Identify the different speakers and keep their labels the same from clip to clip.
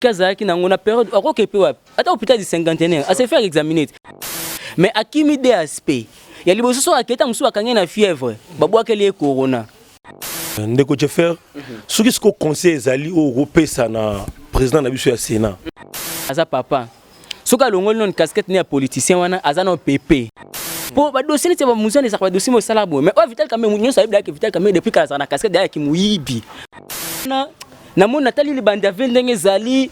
Speaker 1: Soki azalaki na yango na periode ako ke pe wapi? Ata hôpital du cinquantenaire, a se faire examiner. Mais akimi DSP. Ya liboso soki akei tango mosusu ba kangi ye na fièvre, ba bwakeli ye corona. Ndeko
Speaker 2: Jeffer, soki sikoyo conseil ezali oyo okopesa na president na biso ya Senat? Aza papa.
Speaker 1: soki alongoli nanu casquette ne ya politicien wana aza nao pepe po badosie neti ya bamuzani ezalaka badosie moyo esala boye mais oyo vital kamere nyonso ayebi dayake vital kamere depuis kala azalaka na casquette dayake moyibi na namoni natali libandi ya ve ndenge ezali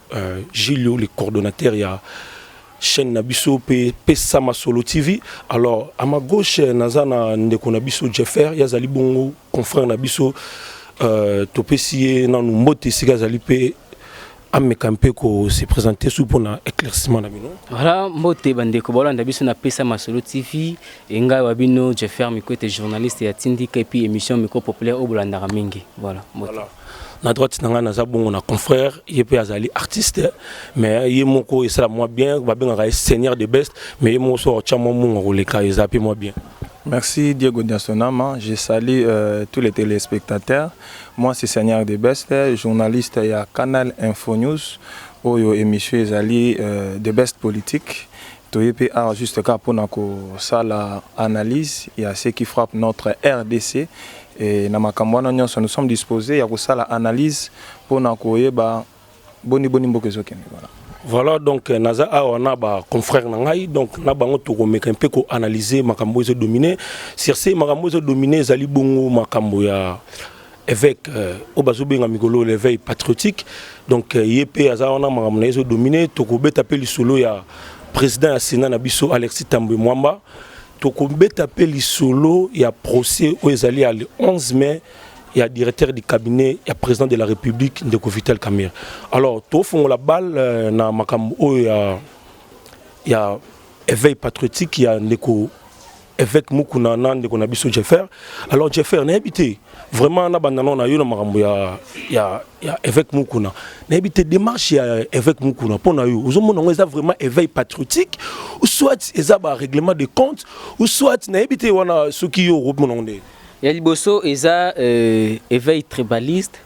Speaker 2: Euh, Julio le coordonnateur ya chaîne na biso pe pesa masolo TV. Alors à ma gauche naza na ndeko na biso Jeffer, ya zali bongo confrère na biso euh, topesi ye nanu mbote esika azali pe ameka mpe ko se présenter sous pona éclaircissement na bino. Voilà mbote
Speaker 1: bandeko bolanda biso na pesa masolo TV engai wa bino Jeffer Mikwete journaliste ya Tindika et puis émission micro populaire au bolandaka mingi. Voilà mbote. Voilà. na droite na ngai
Speaker 2: naza bongo na confrère ye mpe azali artiste mais ye moko esala mwa bien babengaka ye seigneur de best mais ye moko soki otya mwa munga koleka eza mpe mwa bien Merci Diego
Speaker 3: Diasonama. Je salue euh, tous les téléspectateurs. Moi, c'est Seigneur de Best, journaliste à Canal Info News. Oyo émission ezali euh, de Best Politique. Toye pe awa juste kaka pona kosala analyse ya ce qui frappe notre rdc et na makambo wana nyonso nous sommes disposer ya kosala analyse pona koyeba boni boni mboka ezokende voilà. Voilà donc euh,
Speaker 2: naza awa na ba confrères na ngai donc na bango tokomeka mpe ko analyser makambo ezo dominer sur ce makambo ezo dominer ezali bongo makambo ya Évêque euh, oyo bazobenga mikolo l'éveil patriotique donc euh, ye mpe aza wana makambo na ye ezodomine tokobeta mpe lisolo ya président ya sénat na biso alexis tambwe mwamba tokobeta mpe lisolo ya procès oyo ezali ya le 11 mai ya directeur du cabinet ya président de la république ndeko vital camere alors tofongola bale euh, na makambo oyo ya ya éveil patriotique ya ndeko Evêque Mukuna na ndeko na biso Jeffer. Alors Jeffer, nayebi te vraiment na banda na yo na makambo ya ya ya Evêque Mukuna. Nayebi te démarche ya Evêque Mukuna mpo na yo. Ozomona yango eza vraiment éveil patriotique ou soit eza ba règlement de compte ou soit nayebi te wana soki yo okomona yango nde. Ya liboso
Speaker 1: eza euh, éveil tribaliste,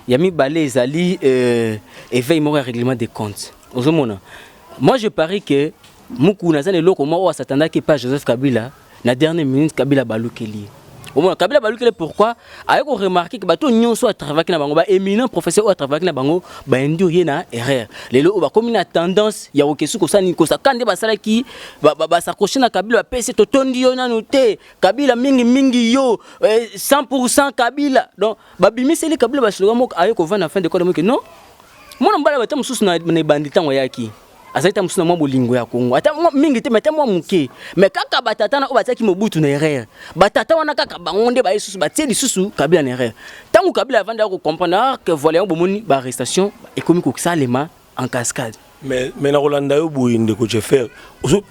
Speaker 1: ya mibale ezali euh, éveil moko ya règlement de compte. Ozomona. Moi je parie que Mukuna aza na eloko moko oyo asatandaki epai ya Joseph Kabila na dernière minute Kabila abalukeli ye. Omona Kabila abalukeli ye pourquoi? Aye ko remarquer que bato nyonso oyo atravaki na bango ba éminents professeurs oyo atravaki na bango ba induire ye na erreur. Lelo oyo bakomi na tendance ya kokesu kosala nini kosaka nde basalaki ba- ba- basakoche na Kabila bapesi totondi yo nanu te Kabila mingi mingi yo eh, 100% Kabila donc babimiseli Kabila baslogan moko aye kovanda na fin de compte amoki non mwana mobali abata mosusu na na ebandi ntango ayaki azali ta mosusu na mwa bolingo ya Kongo ata mingi te, ata mwa moke, me kaka batata na oyo batiaki Mobutu na erreur. Batata wana kaka bango nde baye susu batie lisusu Kabila na erreur. Ntango Kabila avandi ako comprendre ah, que voilà yango bomoni ba arrestation ekomi kosalema en cascade. mais mais na kolanda
Speaker 2: yo boye ndeko jeffer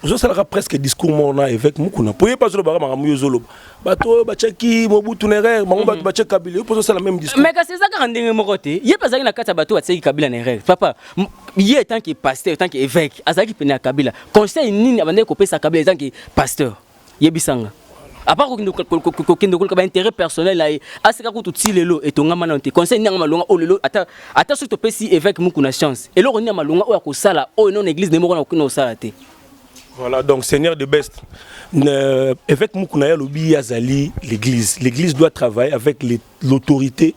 Speaker 2: ozosalaka presque discours moko na évêque mokuna mpo ye mpe azolobaka makambo yo ozoloba bato oyo batyaki mobutu na erreur bango bato mhm. batye kabila yo mpe ozosala meme discours mais kasi eza kaka ndenge moko
Speaker 1: te ye mpe azalaki na kati ya bato oyo batyaki kabila na erreur papa ye tant que pasteur tant que évêque azalaki pene ya kabila conseil nini abandaki kopesa kabila tant que pasteur yebisa nga apart kokende koluka baintérêt personnel na ye aseka kutu ti lelo etongama nano te conseil nini yanga malonga oyo lelo ata ata soki topesi évêque muku na chance eloko nini ya malonga oyo akosala oyo non église ne moko na kokende kosala te Voilà, donc
Speaker 2: Seigneur de Best, euh, évêque Mukuna Yalobi Azali, l'église. L'église doit travailler avec les l'autorité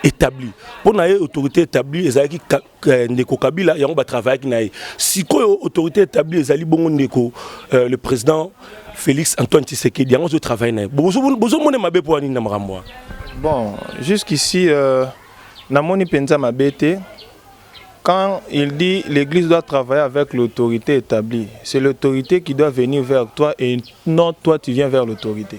Speaker 2: établie mpo na ye autorité établie ezalaki euh, ndeko kabila yango batravaillaki na ye sikoyo autorité établie ezali bongo ndeko euh, le président félix antoine tshisekedi yango azotravaille na ye bozomone mabe mpo anini na makambo wana bon
Speaker 3: jusqu'ici euh, namoni mpenza mabe te quand il dit l'église doit travailler avec l'autorité établie c'est l'autorité qui doit venir vers toi et non toi tu viens vers l'autorité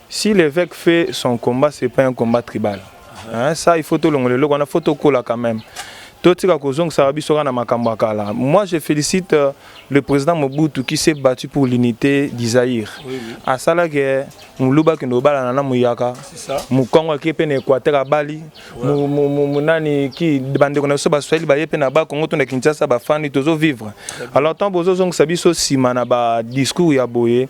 Speaker 3: Si l'eveque fait son combat c'est pas un combat tribal. Hein, ça il faut tout le loko na photo kola quand même. Totika kozongisa biso na makambo ya kala. Moi je félicite euh, le président Mobutu qui s'est battu pour l'unité du Zaïre. Oui, oui. Asala que muluba kende obalana na muyaka. Mukongo ake pe na Equateur abali. Mu, mu, mu, mu nani ki bandeko na biso ba Swahili ba yepe na ba Congo to na Kinshasa ba fani tozo vivre. Alors tant bozo zongisa biso sima na ba discours ya boye.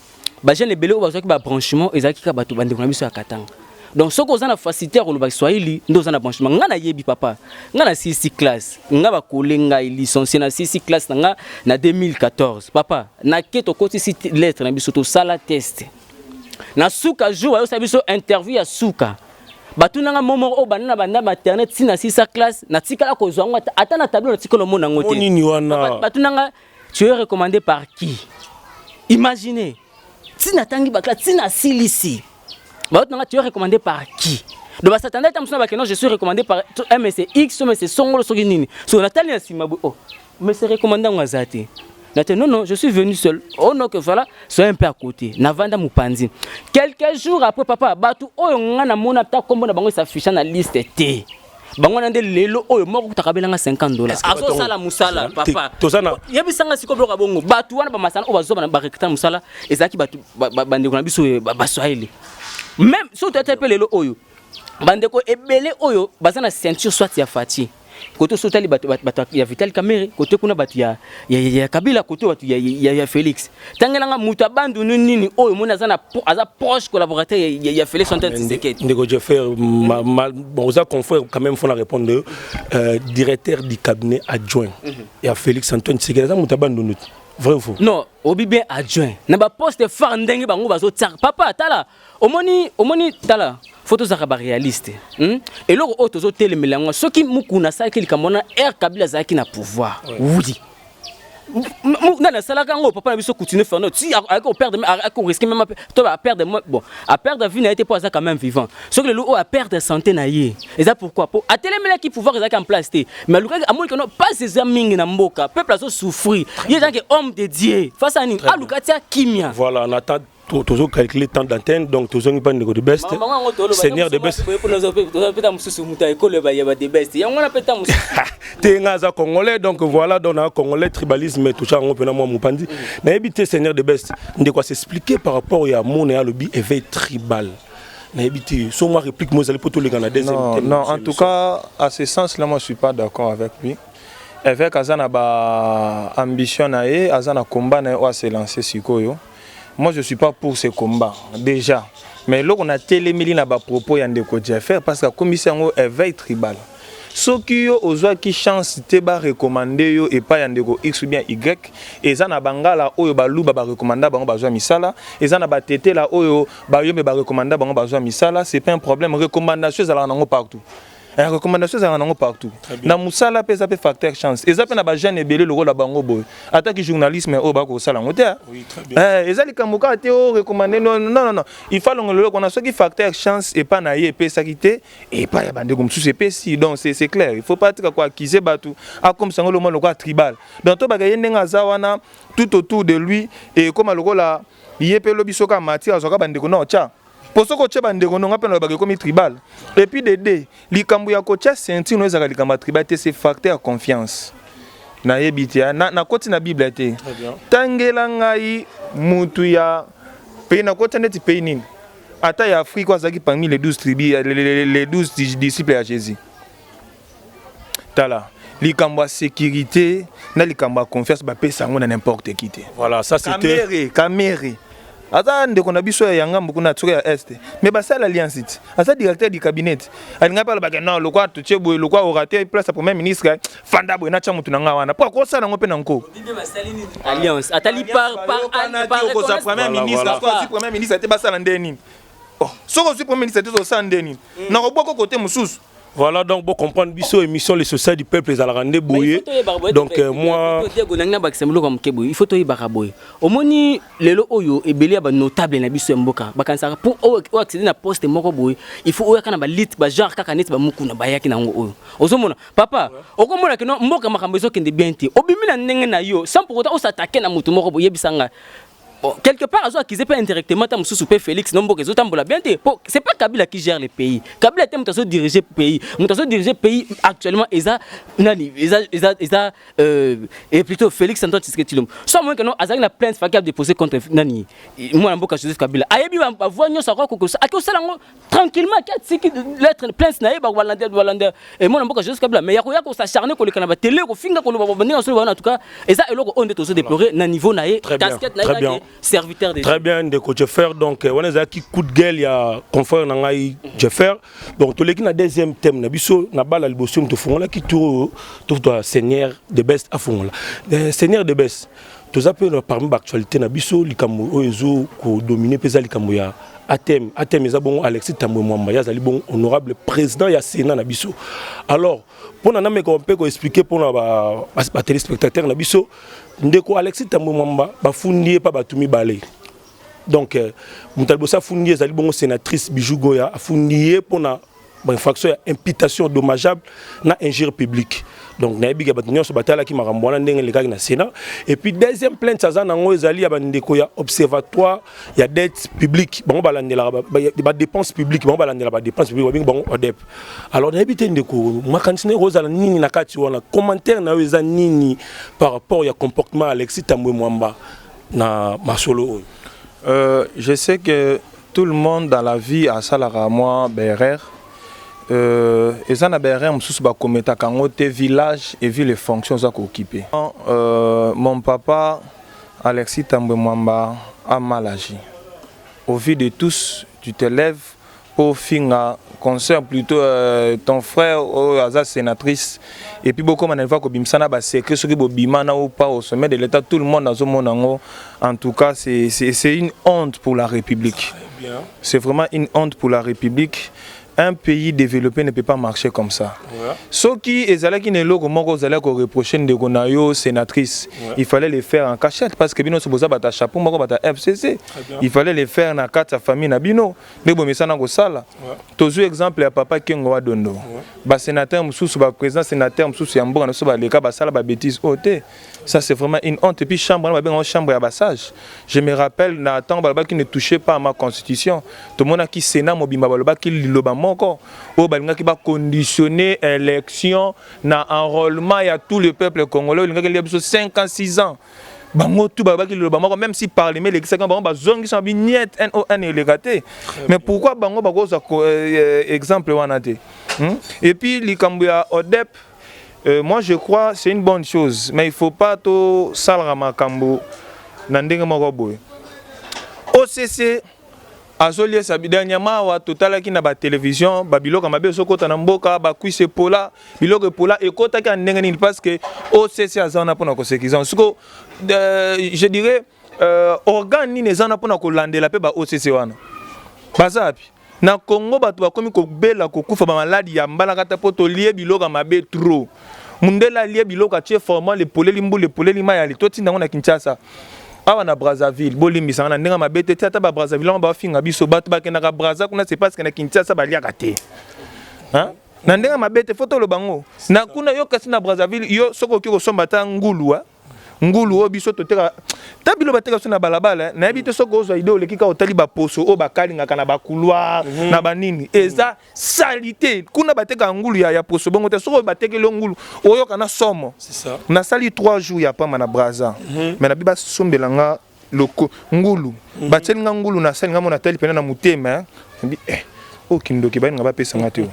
Speaker 1: ba jeunes ebele oyo bazwaki ba branchement ezalaki kaka bato bandeko na biso ya katanga donc soki oza na facilité ya koloba kiswahili nde oza na branchement ngai nayebi papa ngai na sisi classe ngai bakole ngai licencie na sisi classe na ngai na 2014 papa nake tokotisi lettre na biso tosala test na suka jour bayosala biso interview ya suka batuna nga momo oyo banda na banda maternelle ti na sisa classe natikala kozwa yango ata na tableau natikala omona yango te batuna
Speaker 2: nga
Speaker 1: Tu es recommandé par qui? Imaginez. Tina tangi bakla, tina silisi. Bah, tu es recommandé par qui? Donc bah, Satan est amsona bakeno, je suis recommandé par MSX, MSC Songolo soki nini. So natali na sima bo. Oh. Mais c'est recommandé ngazati. Natali non non, je suis venu seul. Oh non que voilà, sois un peu à côté. Navanda Mupanzi. Quelques jours après papa, batu oyo nga na mona ta kombo na bango s'afficha na liste te. bango wana nde lelo oyo moko kutaka belanga 50 dollars azosala mosala papa yebisanga sikoyo biloko ya bongo bato wana bamasana oyo bazwa barekta mosala ezalaki bato bandeko na biso eh, baswahili meme soki toyata mpe lelo oyo bandeko ebele oyo baza na ceinture soit ya fati kote oso otali bato ya vital kamere kote kuna bato ya kabila kote bato ya felix tangela nga moto ya bandundu nini oyo omoni aza na aza proche collaborateur ya, ya, ya Felix Antoine Tshisekedi ndeko Jeffer
Speaker 2: oza confrère quand même faut na répondre yo euh, directeur du cabinet adjoint mm -hmm. ya Felix Antoine Tshisekedi aza moto ya bandundu vrai ou faux non obi bien adjoint na ba poste phare ndenge bango bazo tsaka papa tala omoni omoni tala fo tozalaka barealiste hmm? eloko oyo tozotelemela yango soki mukuna asalaki likambo wana aire kabila azalaki na pouvoir wudi nani asalaka yango papa na biso coutume fernand ti ayaki koperdre ayaki koriske meme to aperdre bon aperdre vie na ye te mpo aza quand même vivant soki lelo oyo aperdre santé na ye eza pourquoi mpo atelemelaki pouvoir ezalaki en place te mais alukaki amoni keno mpasi eza mingi na mboka peuple azosouffrir ye ezalaki homme de dieu face ani aluka tia kimia voilà tozo calculer temps d'antenne donc tozongi mpa ndeko de best seigneur de best peta mosusu moto ya ekolo ya ba de best yango wana peta mosusu te nga aza congolais donc voilà donc na congolais tribalisme toucha yango mpena mwa mopandi mm. nayebi te seigneur de best ndeko asexplike par rapport ya mona ya alobi éveil tribal nayebi te so mwa réplique mo ezali mpo toleka na deuxième non, non en tout
Speaker 3: cas à ce sens là moi je suis pas d'accord avec lui évêque aza na ba ambition na ye aza na combat na ye oyo aselanse sikoyo Moi je suis pas pour ce combat déjà mais eloko na telemeli na ba propos ya ndeko Jeffer parce que akomisi yango éveil tribal. soki yo ozwaki chance te barekomande yo epai ya ndeko x ou bien y eza na bangala oyo baluba barekomanda bango bazwa misala eza na batetela oyo bayombe barekomanda bango bazwa misala c'est pas un problème recommandation ezalaka nango partout Eh, recommandation ezalaka nango partout na mosala mpe eza mpe facteur chance eza mpe na bajeune ebele lokola bango boye ataki journalisme oyo bakoki kosala yango te eh, eza likambo kaka te o oh, recommande nonnn il faut alongela eloko wana soki facteur chance epai na ye epesaki te epai ya bandeko mosusu epesi donc c'est clair il faut pas tika koakize bato akomisa yango lomwa lokola tribal donc tobaka ye ndenge aza wana tout autour de lui ekoma lokola ye mpe lobi soki amati azwaka bandeko na otya mpo soki otye bandeko ndonga mpe nalobaka ekomi tribal epuis dede likambo ya kotya sentino ezalaka likambo ya tribal te se facte ya confiance nayebi te ah, nakoti na, na biblia te tangela ngai motu ya pei nakotya ndeti pei nini ata ya afrika azalaki parmi les 12 tribus les 12 disciples ya jésus tala likambo ya sécurité na likambo ya
Speaker 2: confiance
Speaker 3: bapesa yango na n'importe qui
Speaker 2: te
Speaker 3: voilà ça c'était
Speaker 2: kamere
Speaker 3: aza ndeko na biso ya yanga mbuku na tsoka ya est mais basala alliance ti aza directeur du cabinet alinga pala baka non lokwa tutie boye lokwa orateur place ya premier ministre fanda boye natya motu na ngai wana mpo akosala yango mpe na nko alliance
Speaker 1: atali par par par okozwa
Speaker 3: premier ministre akozwa premier ministre te basala nde nini oh, soki ozwi premier ministre te ozosala nde nini mm. nakobwaka kote mosusu Voilà donc bo
Speaker 2: comprendre biso émission les sociétés du peuple ezalaka nde boye donc euh, moi Diego nangi na bakisa mloko moke
Speaker 1: boye il faut toyebaka boye omoni lelo oyo ebele ya ba notable na biso ya mboka bakanisaka pour oyo accéder na poste moko boye il faut oyaka na ba lit ba genre kaka neti ba mukuna bayaki nango oyo ozomona papa okomona kino mboka makambo ezokende bien te obimi na ndenge na yo sans pour autant osattaquer na moto moko boye yebisa ngai Bon, quelque part azo accuser pas indirectement ta mususu pe Felix no mboka ezotambola bien te po c'est pas Kabila qui gère le pays Kabila te moto azo diriger pays moto azo diriger pays actuellement eza nani eza eza eza euh, et plutôt Felix Antoine Tshisekedi Tshilombo soit moyen que non azali na plainte faki a déposer contre nani mwana mboka Joseph Kabila ayebi ba voix nyonso akoki kokosa akosala ngo tranquillement ki atiki lettre plainte na ye bakolanda balanda emona mboka joseph kabila mais ya koya kosacharne koleka na batele kofinga koloba babandinga basolo baona en tout cas eza eloko oyo nde tozo déplorer na niveau na ye casquette na ye kake serviteur de très bien ndeko
Speaker 2: jeffer donc euh, wana ezalaki coup de gueule ya confrère na ngai jeffer donc toleki na deuxième thème na biso na bala liboso tofungolaki tour tofuta seigneur de best afungola euh, seigneur de best toza mpe na parmi baactualité na biso likambo oyo ezo kodomine mpe eza likambo ya atm atm eza bongo alexis tambwe mwamba ye azali bongo honorable président ya sénat na biso alors mpo na nameka mpe koexplike mpo na batelespectateur na biso ndeko alexis tambwe mwamba bafundi ye mpa bato mibale donc euh, moto ya liboso afundi ye ezali bongo sénatrice bijou goya afundi ye mpo na ba infraction ya imputation dommageable na injure publique donc nayebi ke bato nyonso batalaki makambo wana ndenge elekaki na sénat et puis deuxième plainte aza nango ezali ya bandeko ya observatoire ya dette publique bango balandelaka badépense publique bango balandela badépense publique babengi bango odep alors nayebi te ndeko makanisi naye kozala nini na kati wana commentaire na yo eza nini par rapport ya comportement alexis tambwe mwamba na masolo oyo euh,
Speaker 3: je sais que Tout le monde dans la vie asalaka mwa baerreur euh, eza na baerreur mosusu bakometaka yango te village et ville fonction oza kookipe euh, mon papa alexis tambwe mwamba a mal agi au vu de tous tu te lèves mpo finga concert plutôt euh, ton frère oyo aza sénatrice epuis bokoma na liva kobimisa na basecret soki bobima na ou pas au sommet de l'état tout le monde azomona yango En tout cas, c'est une honte pour la République. C'est vraiment une honte pour la République. Un pays développé ne peut pas marcher comme ça. Ce qui est allé qui n'est logo moko zala ko reprocher de gonayo sénatrice. Il fallait les faire en cachette parce que bino se boza bata chapeau moko bata FCC. Il fallait les faire na quatre famille na bino. Ne bo mesana ko sala. Tozu exemple ya papa Kengo wa dondo. Ba sénateur mususu ba président sénateur mususu ya mboka na so ba leka ba sala ba bêtises ote. Oh, Ça c'est vraiment une honte. Et puis chambre, on a chambre à bassage. Je me rappelle, na temps baloba qui ne touchait pas à ma constitution. Tout le monde a qui sénat mobimba baloba qui liloba moko. Oh balinga qui va conditionner élection na enrôlement ya tout le peuple congolais. Linga qui a besoin 5 ans, 6 ans. bango tu balobaki liloba moko même si parlement elekisaki bango bazongisa bi niet non eleka te mais pourquoi bango bakozwa euh, euh, exemple wana te hmm? et puis likambo ya odep Euh, moi je crois c'est une bonne chose mais il faut pas to salra makambo na ndenge moko boye OCC azoliesa dernièrement awa totalaki na batelevision babiloko mabe ezokota na mboka bakwisi epola biloko epola ekotaki ya ndenge nini parce que occ aza wana mpona kosekisa siko euh, je dirais euh, organe nini eza wana mpona kolandela mpe ba occ wana baza wapi na congo bato bakomi kobela kokufa bamaladi ya mbalakata mpo tolie biloko ya mabe trop mundele alie biloko atie formal epoleli mbula epoleli mai ali totinda yango na kinshasa awa na brazzaville bolimbisanga na ndenge mabe te ti ata babrazzaville yango bafinga biso bato bakendaka brazza kuna se paske na kinshasa baliaka te hein? na ndenge mabe te fo toloba yango na kuna yo kasi na brazzaville yo soki okoki kosomba ata ngulua ngulu oyo biso toteka ta bilo bateka biso na balabala nayebi te soki ozwa ide oleki kaka otali baposo oyo bakalingaka na bakulwa mhm. na banini eza salite kuna bateka ngulu ya, ya poso bongo te soki batekeli ngulu oyoka na somo nasali
Speaker 2: 3 jours
Speaker 3: ya pamba na braza mm -hmm. me nabi basombela nga loko ngulu mhm. batieli nga ngulu na sani nga mona tali pena na motema nabi eh oyo oh, kindoki bayini nga bapesa nga te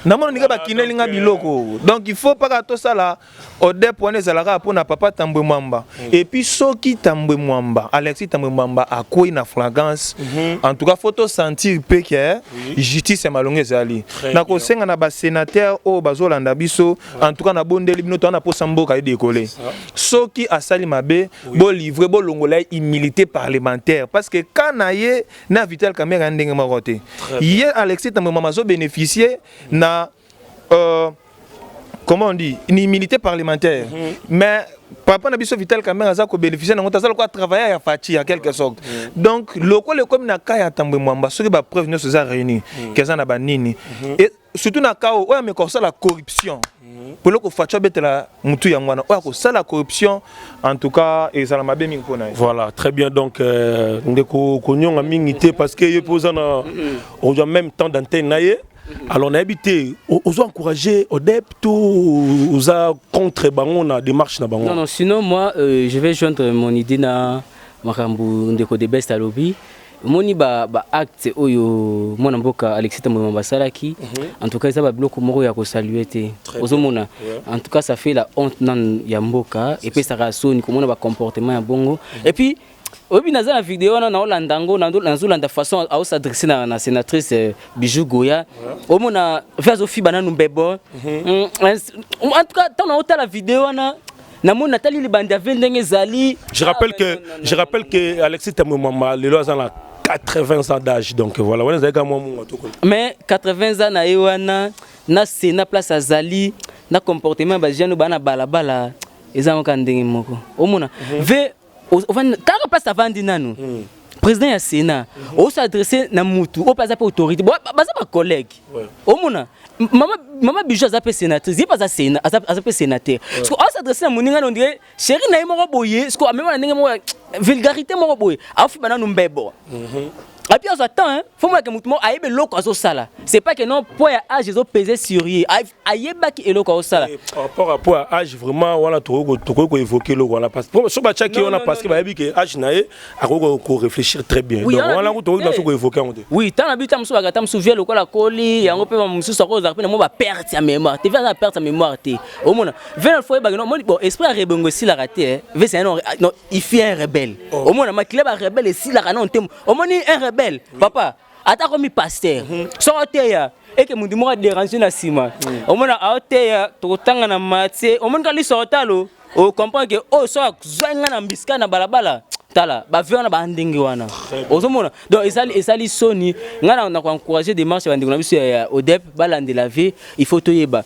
Speaker 3: namona ndenge bakineli nga biloko donc il faut mpaka tosala odep wana ezalaka mpo na papa tambwe mwamba mhm. epuis soki tambwe mwamba alexis tambwe mwamba akwei na fragrance mhm. en tout cas faut tosentir mpe ke justice ya malonga ezali na kosenga na basenateur oyo bazolanda biso en tout cas nabondeli bino towana mposa mboka edekole soki asali mabe bo livre bo longola humilité parlementaire parce que quand na ye na Vital Kamerhe ya ndenge moko te ye Alexis Tambwe mama zo bénéficier na euh, comment on dit une humilité parlementaire mm -hmm. mais papa na biso Vital Kamerhe aza ko bénéficier na ngota aza lokola travailleur ya Fatshi en quelque sorte mm. donc lokola ekomi na cas ya Tambwe Mwamba soki ba preuves nyonso eza réunies mm. keza na ba nini mm -hmm. et surtout na cas oyo ameka kosala corruption mhm. polo kofaci abetela motu yango wana oyo akosala corruption en tout cas ezala mabe mingi mpo na ye voilà très bien donc
Speaker 2: euh, ndeko konyonga mingi te parce que ye mpe oza na mhm. ozwa même temps d'antenne na ye mhm. alors nayebi te ozo encourage odep to oza contre bango na démarche na bango non, non sinon moi
Speaker 1: euh, je vais joindre mon idée na makambo ndeko de best alobi omoni ba, ba acte oyo mwana mboka Alexis Tambwe Mwamba asalaki mm -hmm. en tout cas eza ba biloko moko ya kosalue te ozomona yeah. en tout cas ça fait la honte nan ya mboka epesaka soni komona ba comportement ya bongo mm -hmm. et puis oyebi naza na video wana naolanda yango nazolanda façon aosadresse na, na sénatrice euh, bijou goya omona ve azofiba nanu mbebo mhm. mm, en tout cas ntango naotala video wana namoni natali libanda vie ndenge ezali je rappelle ah, que
Speaker 2: je rappelle que Alexis Tamumama lelo aza na 80 ans d'âge donc voilà wana ezalaki mwa mungo toko mais 80 ans na ye wana na sena place azali na comportement ba jeune bana balabala eza ngoka ndenge moko omona mhm. ve kaka place avandi nanu hmm. président ya sénat hmm. oso adresse na mutu oyo mpe aza mpe autorité baza bacollègue omona mama mama bijou aza mpe sénatrice ye mpe aza sénat aza mpe sénateur parce que oso adresse na moninga na ondire chéri na ye moko boye parce que amema na ndenge moko vulgarité moko boye aofiba nanu mbebo mhm. api azwa temps fo moyake motu moko ayebe eloko azosala c'est pas que non mpo ya age ezopese sur ye ayebaki eloko aosala eh, par rapport à point age vraiment wana tokoki tokoki ko évoquer eloko wana parce que so batiaki wana parce que bayebi ke age na ye akoki ko réfléchir très bien donc wana ko tokoki naso ko évoquer yango te oui tant na bita mosusu bakata
Speaker 1: mosusu vie lokola koli yango mpe mosusu akozala mpe na mwa baperte ya mémoire te vie aza na perte ya mémoire te omona vie na foye bakino omoni bon esprit ya rebongo esilaka te eh. vie c'est non il fait un rebelle oh. omona makila ba rebelle esilaka non te omoni un rebelle papa ata komi pasteur mhm. soki oteya eke moto moko aderange na nsima mhm. omona aoteya tokotanga na matie omoni ka liso otalo ocomprendre ke oyo oh, soki azwai ngai na mbisika na balabala tala bavi wana bandenge wana ozomona donc esali esali soni ngai na koencourage démarche ya bandeko na biso ya odep balandela vie il faut toyeba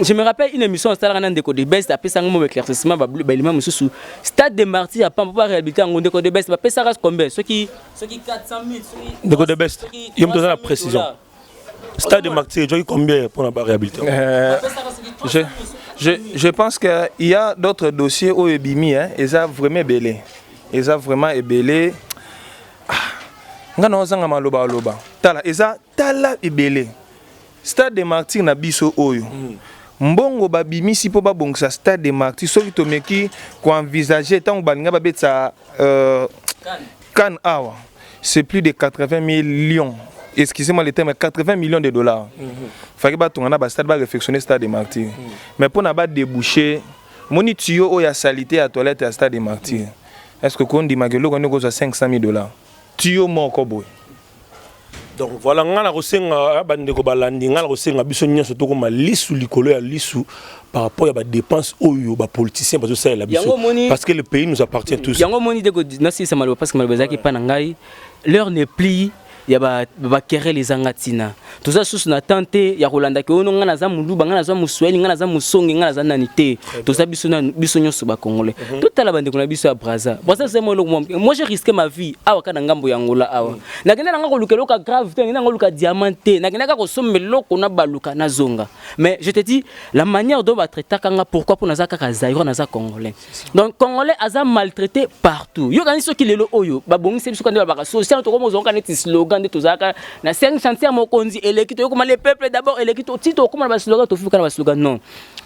Speaker 1: je me rappelle une émission asalaka na ndeko de best apesanga mo éclaircissement baelima mosusu stade de martyr ya pampo baréhabilité yango ndeko de best bapesaka combien soki soki 400 minutes soki ndeko de best
Speaker 2: yo moto oza na précision stade de martyr ejoki combien mpo na baréhabilitation euh, je,
Speaker 3: je, je pense qu'il y a d'autres dossiers oyo ebimi hein, eza vraiment ebele eza vraiment ebele ah, nga naozanga maloba aloba tala eza Tala ebele stade de martyr na biso oyo mm. mbongo babimisi mpo babongisa stade de martyr soki tomeki koenvisage ntango balinga babetisa euh, kan awa c'est plus de 80 millions excusez-moi le terme 80 millions de dollars mm -hmm. faki batonga na bastade barefectionne stade de martyr mm -hmm. mais mpo na badebouche moni tuyo oyo ya salite ya toilette ya stade de martyr mm -hmm. est ce que kondimaka eloko yango ekozwa 500 000 dollars tuyo moko boye
Speaker 2: donc voilà ngai nakosenga ah, bandeko balandi ngai nakosenga biso nyonso tokoma lisu likolo ya lisu par rapport ya badepense oyo bapoliticien bazosalela biso parce que le pays nous appartient tous yango omoni ndeko nasilisa
Speaker 1: maloba parce que maloba ezalaki epai na ngai l'heure ne plie ya bakerele ezanga ntina toza susu na temps te ya kolanda ke ono ngai naza muluba ngai naza moswahili ngai naza mosonge ngai naza nani te toza biso na biso nyonso ba congolais mhm. totala bandeko na biso ya braza braza eza mwa eloko mwa moi j'ai risqué ma vie awa kaka na ngambo ya ngola awa mhm. nakenda nanga koluka eloko ya grave te nakenda nanga koluka diamant te nakenda kaka kosomba eloko na baluka nazonga mais je te dis la manière dont batraitaka nga pourquoi mpo naza kaka zairo naza congolais donc congolais aza maltraité partout yo kanisi soki lelo oyo babongisi biso kande babaka social tokoma ozongoka neti slogan nde tozalaka na cinq chantier ya mokonzi eleki toyokoma le peuple d'abord eleki ti tokoma na baslogan tofika na baslogan non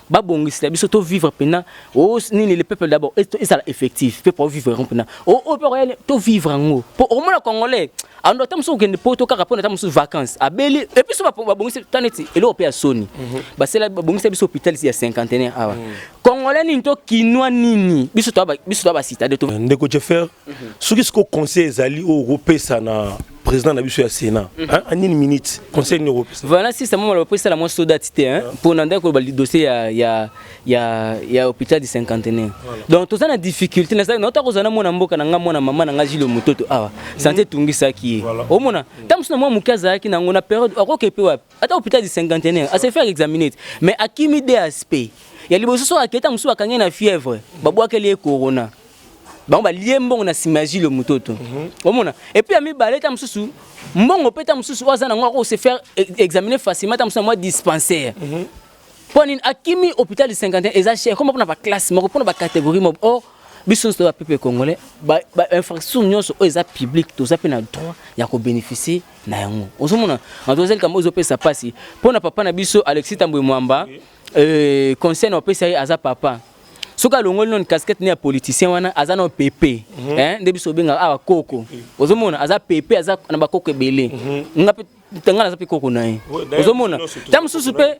Speaker 1: babongisela biso tovivre mpena o oh, nini le peuple d'abord ezala effectif mpe po vivre yango mpena o oh, oyo oh, mpe tovivre yango mpo okomona congolais ando ata mosusu okende poto kaka mpona ata mosusu vacances abeli epuis so babongisi ta neti eloko mpe ya soni mhm. basala babongisa biso hôpital ya cinquantenaire awa mhm. Congolais nini to kinois nini biso to biso to ba citadin to ndeko Jeffer mhm.
Speaker 2: soki siko conseil ezali oyo okopesa na président na biso ya Sénat mhm. hein en une minute conseil nini okopesa voilà si ça mama le
Speaker 1: président la moi soda tité hein pour nanda ko ba dossier ya ya ya ya hôpital du cinquantenaire donc toza na difficulté na ça na otako zana mwana mboka na nga mwana mama na nga jilo mototo awa santé mhm. tungisaki ye omona ntango mosusu na mwa moke azalaki nango na période akokepe wapi ata hôpital du cinquantenaire à se faire examiner mais akimi DSP ya liboso so aketa mosusu bakangi na fièvre babwakeli ye corona bango balie mbongo na nsima ya jile mototo mhm. omona epuis ya mibale ta mosusu mbongo mpe ta mosusu oyo aza nango ako se faire e-, examiner facilement ta mosusu na mwa dispensaire mhm. mpo nini akimi hôpital du cinquantenaire eza cher koma mpona baclasse moko mpona bacatégorie moko or biso nyonso toya peuple congolais bainfrastructure nyonso oyo eza publique toza mpe na droit ya kobénéficie na yango ozomona mademoiselle kambo ezopesa mpasi mpo na papa na biso alexis tambwe mwamba euh, conseil na opesa ye aza papa soki alongoli noni casquette ne ya politicien wana aza na pepe mhm. eh, nde biso obengaka awa koko ozomona aza pepe aza na bakoko ebele mhm. nga mpe ngai naza mpe koko na ye ozomona ntango mosusu mpe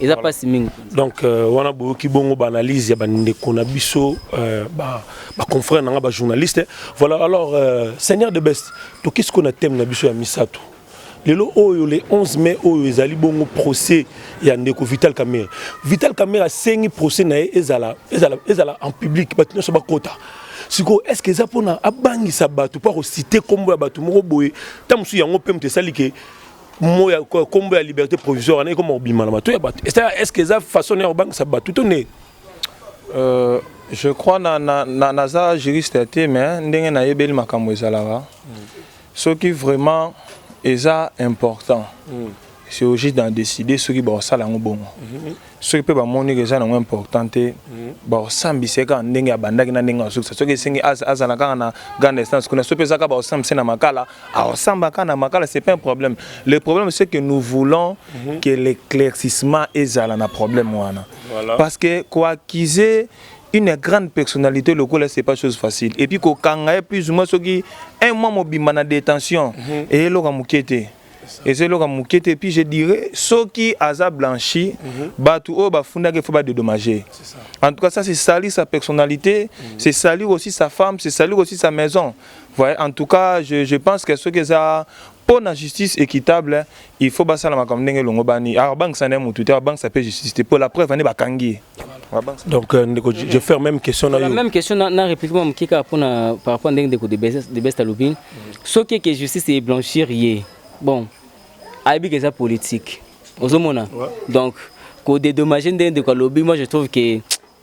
Speaker 1: eza pasi mingi donc euh, wana
Speaker 2: boyoki bongo baanalyse ya bandeko na biso euh, baconfrère na nga bajournaliste voilà alors euh, seigneur de best toki sikoyo na thème na biso ya misato lelo oyo le 11 mai oyo ezali bongo procès ya ndeko vital camere vital camere asengi procès na ye ezala, ezala, ezala en public bato nyonso bakota sikoyo est ce que eza mpona abangisa bato mpo akosite nkombo ya bato moko boye ntango mosusu yango mpe moto esali ke mo ya kombo ya liberté provisoire wana ekoma kobima na bato ya bato est-ce que eza façon ya kobangisa bato to nde euh,
Speaker 3: je crois na, na, na, naza juriste ya te mais ndenge nayebeli makambo ezalaka mm. soki vraiment eza important mm. c'est au juste d'en décider soki bakosala yango bongo mm -hmm. soki mpe bamoni eza nango important te mhm. bakosambisa ye kaka ndenge abandaki na ndenge asukisa soki esengi azala kaka na grande instance kuna soki mpe eza kaka bakosambisa na makala akosamba kaka na makala c'est pas un problème le problème c'est que nous voulons mhm. que l'éclaircissement ezala na problème wana parce que koaccuse une grande personnalité lokola c'est pas chose facile et puis kokanga ye plus ou moins soki un mois mobimba na détention mhm. eyeloko moke te eza eloko moke te puis je dirais soki aza blanchi mm -hmm. bato oyo bafundaki il faut badedommage en tout cas ça c'est sali sa personnalité mm -hmm. c'est sali aussi sa femme c'est sali aussi sa maison voyez en tout cas je, je pense que soki eza mpo na justice équitable il faut basala makambo ndenge elongobani alors bangisa na ye motu te abangisa mpe justice te mpo la preuve ane bakangi ye donc
Speaker 2: euh, ndeko je faire même question na yo même question na
Speaker 1: réplique mwa moke kaka mpona par rapport ndenge ndeko de best alobini soki ke justice e blanchir ye bon ayebi ke eza politique ozomona ouais. donc ko dédommager nde ndeko alobi moi je trouve que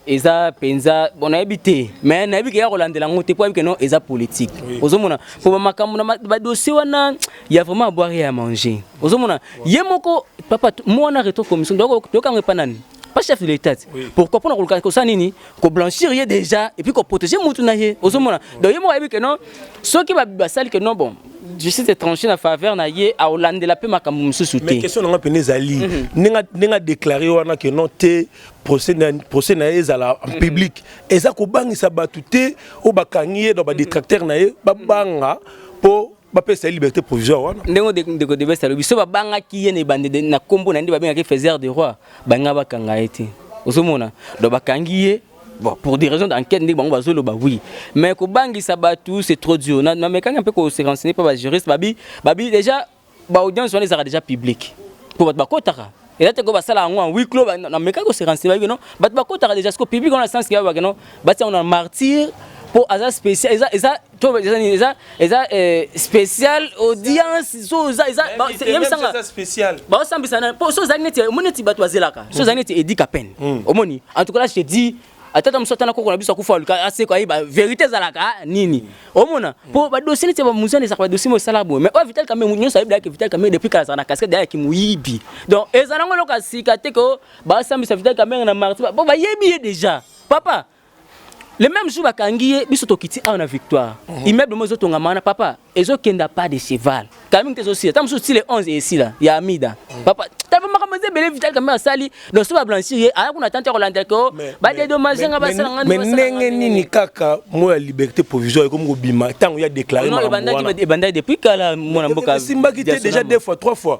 Speaker 1: eza penza bon nayebi te mais nayebi ke ya kolandela yango te mpo ayebi ke non eza politique oui. ozomona mpo bamakambo na badossier wana ya vraiment abwari ya manger ozomona ye moko papa mwana retro commission toyokango epa nani pas chef de l'état oui. pourquoi pona koluka kosala nini koblanchir ye déjà et puis koprotéger mutu na ye ozomona donc ye moko ayebi ke non soki basali ke non bon justice étranger na faveur na ye aolandela mpe makambo mosusu te mais question nanga mpena ezali
Speaker 2: mhm. ndenge adéclare wana ke non te procès na ye ezala en mhm. public eza kobangisa bato te oyo bakangi ye donc badétracteur na ye babanga mpo bapesa ye liberté provisoire wana ndenge ndeko de besa
Speaker 1: alobi so babangaki ye na ebandede na nkombo na nde babengaki faiseur de roi balinga bakanga ye te ozomona donc bakangi ye bon pour des raisons d'enquête ndenge bango bazoloba oui mais kobangisa bato c'est trop dur namekaki mpe ko se renseigner mpe bajuriste babi babi déjà baaudience wana ezalaka déjà publique mpo bato bakotaka eza te ko basala yango en huis clos na meka ko se renseigner ba kino bato bakotaka déjà siko public wana sens kiya ba kino batia yango na martyr po aza spécial eza eza to eza nini eza eza euh, spécial audience so eza eza yebisanga
Speaker 3: baosambisa na po so ozali neti omoni neti bato bazelaka so ozali neti
Speaker 1: edika peine omoni en tout cas là je te dis atata mosusu ata na koko na biso akufa aluka aseko ayeba verité ezalaka ah, nini omona mpo badosie neti bamuzana ezalaka badosie mo esala boye mais oyo vital kambe nyonso ayebi dayaki vital kambe depuis kala azalaka na casquette dayaki moyibi donc eza nango eloko ya sika te ko basambisa vital kambe na marti mpo bayebi ye déjà papa le même jour bakangi ye biso tokiti awa na victoire mhm. immeuble mo ezotongama wana papa ezo kenda pas de cheval kaming te ezosila ta mosusu ti le 11 esila ya amida papa tava makambo eza ebele vital kambe asali donc so bablanchir ye aya kuna tante ya kolanda ke o badedomage nga basala nga mais ndenge nini
Speaker 2: kaka mo ya liberté provisoire ekomi kobima ntango ya déclare
Speaker 1: ebandaki
Speaker 2: depuis kala
Speaker 1: mwana
Speaker 2: mboka
Speaker 1: esimbaki
Speaker 2: te
Speaker 1: déjà
Speaker 2: deux fois
Speaker 1: trois
Speaker 2: fois